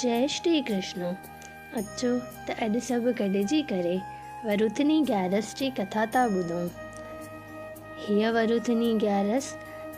جئي شري ڪرشن اچو ته اڄ سڀ گڏجي ڪري ورونٿني گيارس جي ڪٿا ٿا ٻڌون. هيء ورونٿني گيارس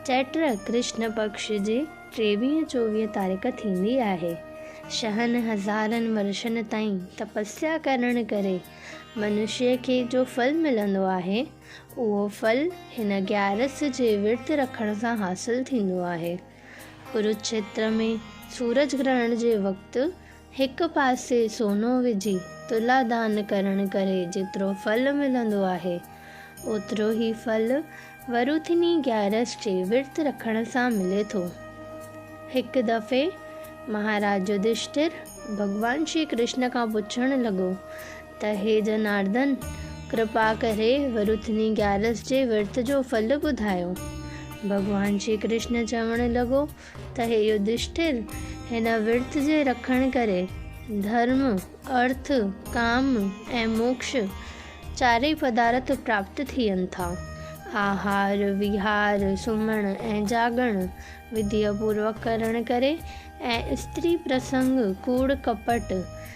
چئٽر ڪرشن پڪش جي ٽيويهه چوويهه تاريخ ٿيندي آهي. شهن هزارن ورشن تائين تپسيا ڪرڻ ڪري منشيء کي جو ڦل ملندو آهي، اهو ڦل هن گيارس جي ورت رکڻ سان حاصل ٿيندو آهي. ڪروکيتر ۾ سورج گرهڻ جي وقت هڪ پاسي سونو وجهي تلا دان ڪرڻ ڪري جيترو ڦل ملندو آهي، اوترو هي ڦل وروٿيني گيارس جي ورت رکڻ سان ملي ٿو. هڪ دفعي مهاراج يڌشٽر ڀڳوان شري ڪرشن کان پڇڻ لڳو ته هي جناردن! ڪرپا ڪري ورتني گيارس جي ورت جو ڦل ٻڌايو. ڀڳوان شري ڪرشن چوڻ لڳو ته هي يڌشٽر! هن ورت جي رکڻ ڪري ڌرم، ارٿ، ڪام ۽ موڪش چارئي پدارٿ پراپت ٿين ٿا. آهار، ويهار، سمهڻ ۽ جاڳڻ وڌيء پوروڪ ڪرڻ ڪري ۽ استري پرسنگ، ڪوڙ ڪپٽ،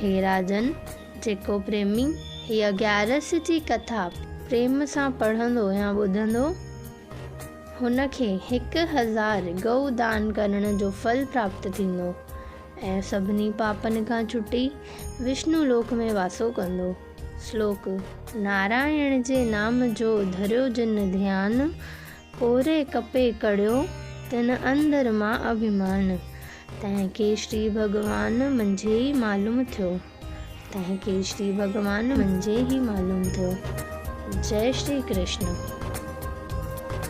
هي راجن جيڪو پريمي هيء گيارس جي ڪٿا پريم سان پڙهندو يا ٻڌندو، هن کي هڪ هزار ڳئو دان ڪرڻ جو ڦل پراپت ٿيندو ۽ سڀني پاپن کان ڇٽي وشنو لوڪ ۾ واسو ڪندو. سلوڪ. نارائڻ جي نام جو ڌريو جن ڌيان، پوري ڪپي ڪڙهيو تن اندر مان اڀيمان. تنهن کي شري ڀڳوان منجهي ئي معلوم ٿيو. تنهن کي شري ڀڳوان منجهي ئي معلوم ٿيو. جئه شري ڪرشن.